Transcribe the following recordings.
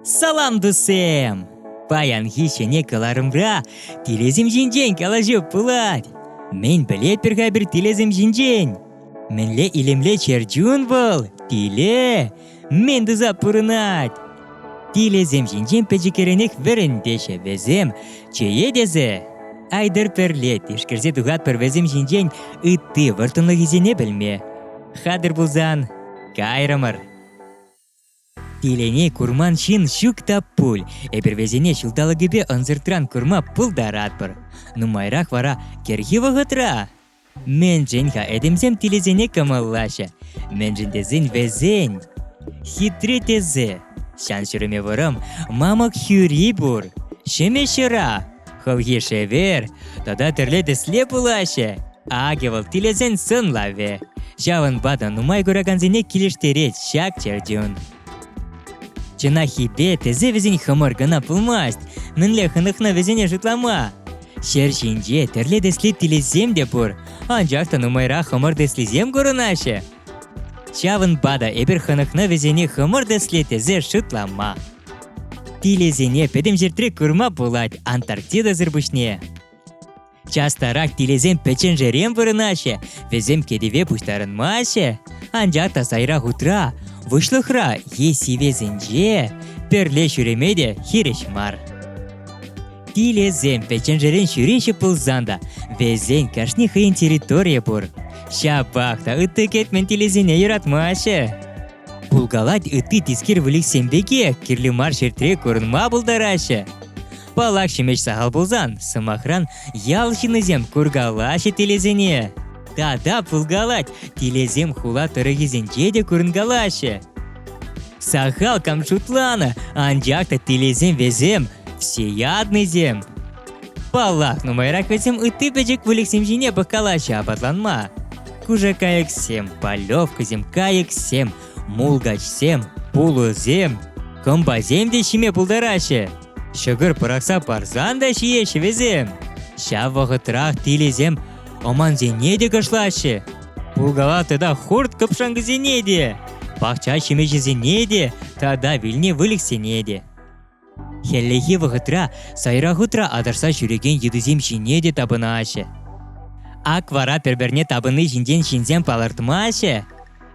Салам, тусем! Паянхи ҫӗнӗ кӑларӑмра тилесем ҫинчен калаҫу пулать. Мӗн пӗлетпӗр-ха пӗр тилесем ҫинчен? Мӗнле илемлӗ чӗрчун вӑл? Тиле! мӗн туса пурӑнать? Тилӗсем ҫинчен пӗчӗкренех вӗрентеҫҫӗ вӗсем. Чее тесе Айдер пӗрле тишкерсе тухатпӑр вӗсем ҫинчен ытти вӑрттӑнлӑхӗсене пӗлме. Хатӗр пулсан, кайрӑмӑр. Тилене курман ҫын ҫук та пуль. Эпир вӗсене ҫулталӑкӗпе ӑнсӑртран курма пултаратпӑр. Нумайрах вара кӗрхи вӑхӑтра Мӗншӗн-ха этемсем тилӗсене кӑмӑллаҫҫӗ? Мӗншӗн тесен вӗсен хитре тӗсӗ. Ҫан-ҫӗрӗме вӑрӑм мамӑк хӳри пур. Ҫӗмӗҫ ҫӑра, хӑлхи шевер тата тӗрлӗ тӗсле пулаҫҫӗ. Акӑ вӑл тилӗсен сӑнлавӗ. Ҫавӑнпа та нумай куракансене килӗштерет ҫак чӗрчун. Чӑнаххипе тесе вӗсен хӑмӑр кӑна пулмасть. Мӗнле хӑнӑхнӑ вӗсене шутлама? Ҫӗр ҫинче тӗрлӗ тӗслӗ тилӗсем те пур, анчах та нумайрах хӑмӑр тӗслисем курӑнаҫҫӗ. Ҫавӑнпа та эпир хӑнӑхнӑ вӗсене хӑмӑр тӗслӗ тесе шутлама. Тилӗсене пӗтӗм ҫӗртре курма пулать Антарктидӑсӑр пуҫне. Частарах тилӗсем пӗчченшерен вырӑнаҫҫӗ, вӗсем кӗтӗве пуҫтарӑнмаҫҫӗ. Анчах та сайра хутра, выҫлӑхра е сивесенче пӗрле ҫӳреме те хирӗҫ мар. Тилӗсем пӗчченшерен ҫӳреҫҫӗ пулсан та, вӗсен кашни хӑйӗн территорийӗ пур. Ҫапах та ытти кӗтмен тилӗсене юратмаҫҫӗ. Пулкалать ытти тискер выльӑхсем пекех кирлӗ мар ҫӗртре курӑнма пултараҫҫӗ. Палак ҫимӗҫ сахал пулсан, сӑмахран, ял ҫыннисем куркалаҫҫӗ тилӗсене. Тата пулкалать, тилӗсем хула тӑрӑхӗсенче те курӑнкалаҫҫӗ. Сахал кам шутланӑ, анчах та тилӗсем вӗсем всеяднӑйсем. Паллах, нумайрах вӗсем ытти пӗчӗк выльӑхсем ҫине пӑхкалаҫҫӗ апатланма. Кушакайӑксем, полевкӑсем, кайӑксем, мулкачсем, пулӑсем, кӑмпасем те ҫиме пултараҫҫӗ. Ҫӑкӑр пӑрахса парсан та ҫиеҫҫӗ вӗсем. Ҫав вӑхӑтрах тилӗсем омансене те кӑшлаҫҫӗ. Пулкала тата хурт кӑпшанкӑсене те, пахча ҫимӗҫӗсене те тата вилнӗ выльӑхсене те. Хӗллехи вӑхӑтра сайра хутра атӑрса ҫӳрекен йытӑсем ҫине те тапӑнаҫҫӗ. Ак вара пӗр-пӗрне тапӑнни ҫинчен ҫынсем палӑртмаҫҫӗ.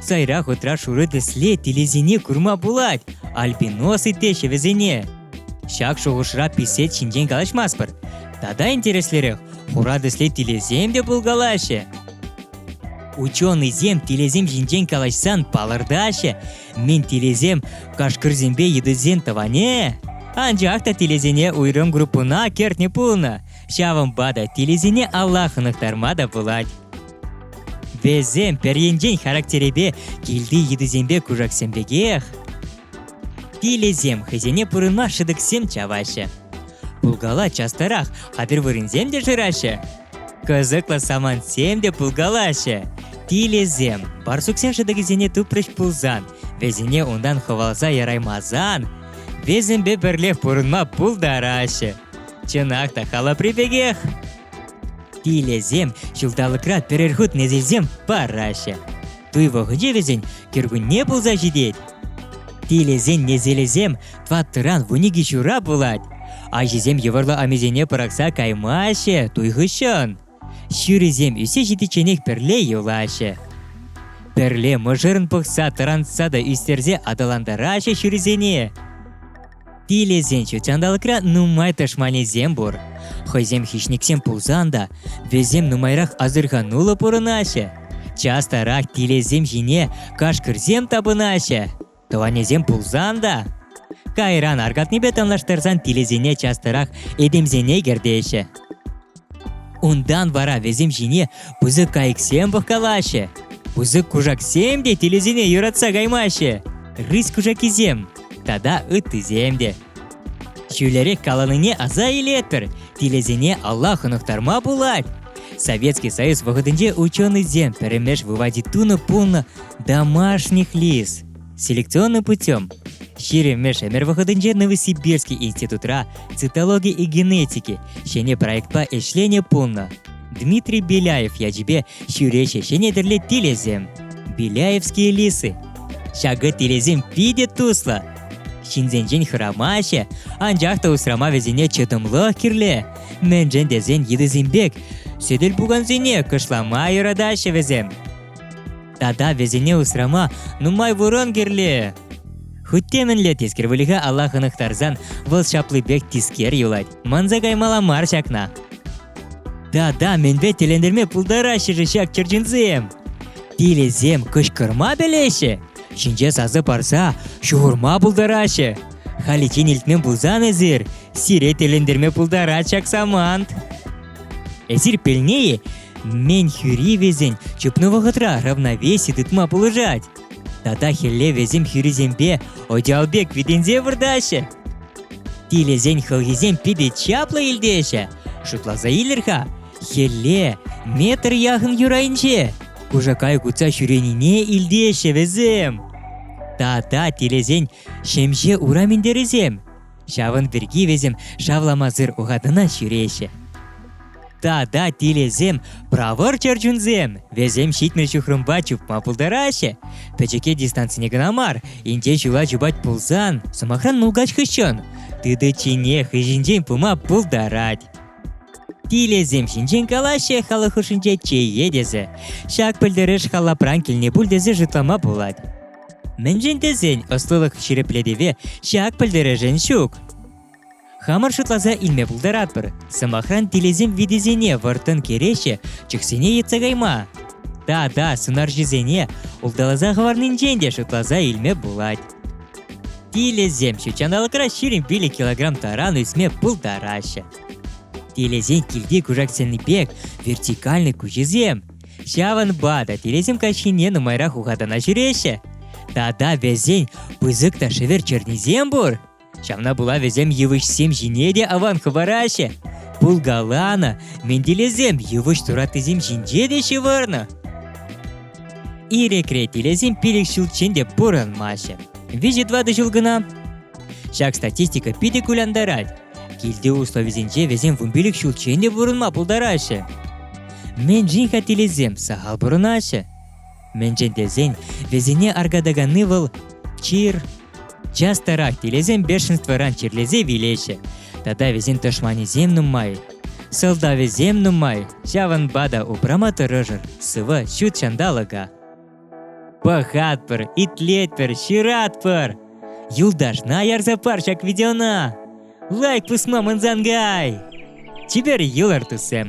Сайра хутра шурӑ тӗсле тилӗсене курма пулать, альпинос итлеҫҫӗ вӗсене. Ҫак шухӑшра писет ҫинчен калаҫмастпӑр. Тата интереслерех, хура тӗсле тилӗсем те пулкалаҫҫӗ. Ученӑйсем тилӗсем ҫинчен калаҫсан палӑртаҫҫӗ, мен тилӗсем кашкӑрсемпе йытӑсен тӑванӗ. Анчах та тилӗсене уйрӑм группӑна кӗртнӗ пулнӑ, ҫавӑнпа та тилӗсене алла хӑнӑхтарма та пулать. Вӗсем пӗр енчен характерӗпе килти йытӑсемпе кушаксем пекех, пилӗсем хӑйсене пурӑнма шӑтӑксем чаваҫҫӗ. Пулкала частарах, а пӗр вырӑнсем те шыраҫҫӗ. Кӑсӑклӑ самантсем те пулкалаҫҫӗ. Пилӗсем барсуксен шӑтӑкӗсене тупрӗҫ пулсан, вӗсене унтан хӑвалса яраймасан, вӗсемпе пӗрлех пурӑнма пултараҫҫӗ. Чӑнах та халапри пекех. Тилӗсем ҫулталӑкра пӗрер хут несӗлсем параҫҫӗ. Туй вӑхӑчӗ вӗсен кӗркунне пулса ҫитет. Тилӗсен несӗлӗсем тӑваттӑран вун икӗ ҫура пулать. Аҫисем йывӑрлӑ амисене пӑрахса каймаҫҫӗ туй хыҫҫӑн. Ҫырисем ӳссе ҫитичченех пӗрле юлаҫҫӗ. Пӗрле мӑшӑрӑн пӑхса тӑрантса та ӳстерсе аталантараҫҫӗ ҫырисене. Пилесен ҫут ҫанталӑкра нумай тӑшманӗсем пур. Хӑйсем хищниксем пулсан та вӗсем нумайрах асӑрхануллӑ пурӑнаҫҫӗ. Частарах пилесем ҫине кашкӑрсем тапӑнаҫҫӗ. Тӑванӗсем пулсан та кайран аркатнипе танлаштарсан пилесене частарах этемсене кӗртеҫҫӗ. Унтан вара вӗсем ҫине пысӑк кайӑксем пӑхкалаҫҫӗ. Пысӑк кушаксем те тилӗсене юратса каймаҫҫӗ. Рысь кушакисем тата ыттисем те. Ҫӳлерех каланине аса илетпӗр, тилӗсене алла хӑнӑхтарма пулать. Советский Союз вӑхӑтӗнче ученӑйсем пӗрремеш выводе тунӑ пулнӑ домашних лис. Селекционный путем Ҫирӗммӗш ӗмӗр вӑхӑтӗнче Новосибирский институтра цитологи и генетики ҫӗнӗ проектпа ӗҫленӗ пулнӑ. Дмитрий Беляев ячӗпе ҫӳреҫӗ ҫӗнӗ тӗрлӗ тилӗсем Беляевские лисы. Ҫакӑ тилӗсем питӗ туслӑ. Ҫынсенчен хӑрамаҫҫӗ, анчах та усрама вӗсене чӑтӑмлӑх кирлӗ. Мӗншӗн тесен йытӑсем пек сӗтел пукансене кӑшлама юратаҫҫӗ вӗсем. Тата вӗсене усрама нумай вырӑн кирлӗ. Хуть те мӗнле тискер выльӑха алла хӑнӑхтарсан вӑл ҫаплипех тискер юлать. Манса каймалла мар ҫакна. Тата мӗнпе тӗлӗнтерме пултараҫҫӗ-ши ҫак чӗрчунсем? Тилӗсем кӑшкӑрма пӗлеҫҫӗ, ҫинҫе сасӑ парса ҫухӑрма пултараҫҫӗ. Халиччен илтмен пулсан эсир, сире тӗлӗнтерме пултарать ҫак самант. Эсир пӗлнӗ-и? Мӗн весен чупнӑ вӑхӑтра равновесие тытма пулӑшать. Тата хӗлле весем хӳрисемпе Одиалбек витӗнсе выртаҫҫӗ. Тилӗсен хӑлхисем питӗ чаплӑ илтеҫҫӗ. Шутласа илер-ха, хӗлле метр яхӑн юрайӗнче кушакай кутса ҫӳренине илтеҫҫӗ вӗсем. Тата тилӗсен ҫемҫе ура минтерӗсем Ҫавӑн пирки вӗсем шавламасӑр ухатӑна ҫӳреҫҫӗ. Тата тилӗсем, правӑр чӗрчунсем, вӗсем ҫитмӗл ҫухрӑмпа чупма пултараҫҫӗ. Пӗчӗке дистанцине кӑна мар, инҫе ҫула чупать пулсан, сӑмахран мулкач хыҫҫӑн, тытӑччине хыҫӗнчен пыма пултарать. Тилӗсем ҫинчен калаҫҫӗ халӑх хушшинче чее тесе. Ҫак пӗлтерӗш халапран килнӗ пуль тесе шутлама пулать. Мӗншӗн тесен ӑслӑлӑх ҫирӗплетӗве ҫак пӗлтерӗшӗн ҫук. Хамӑр шутласа илме пултаратпӑр, сӑмахран тилӗсем витисене вӑрттӑн кӗреҫе чӑхсене йӑтса кайма тата сунарҫӑсене улталаса хӑварнинчен те шутласа илме пулать. Тилӗсем ҫутҫанталӑкра ҫирӗм вилӗ килограмм таран ӳсме пултараҫҫӗ. Тилӗсен килти кушаксенни пек вертикальный куҫӗсем Ҫавӑнпа та телейсем каҫхине нумайрах ухатана ҫӳреҫҫӗ. Тата вӗсен пысӑк та шӗвер чернисем пур. Ҫавна пула вӗсем йывӑҫсем ҫине те аван хӑвараҫҫӗ. Пулкаланӑ ментилесем йывӑҫ тураттисем ҫинче те ҫывӑрнӑ. Ирӗкре телейсем пилӗк ҫулччен те пурӑнмаҫҫӗ. Виҫӗ-тӑватӑ ҫул кӑна. Ҫак статистика питӗ кулянтарать. Килти условисенче вӗсем вунпилӗк ҫулччен те пурӑнма пултараҫҫӗ. Мӗншӗн хаттелесем сахал пурӑнаҫҫӗ? Мӗншӗн тесен вӗсене аркатаканни вӑл чир. Частарах тилесем бешенствӑран чирлесе вилеҫҫӗ. Тата вӗсен тӑшманӗсем нумай. Сӑлтавӗсем нумай, ҫавӑнпа та упрама тӑрӑшӑр сывӑ ҫут ҫанталӑка. Пӑхатпӑр, итлетпӗр, ҫыратпӑр! Юлташна ярса пар ҫак видеона! Лайк пусма мӑнсангай! Чипер йӑлӑр туссем!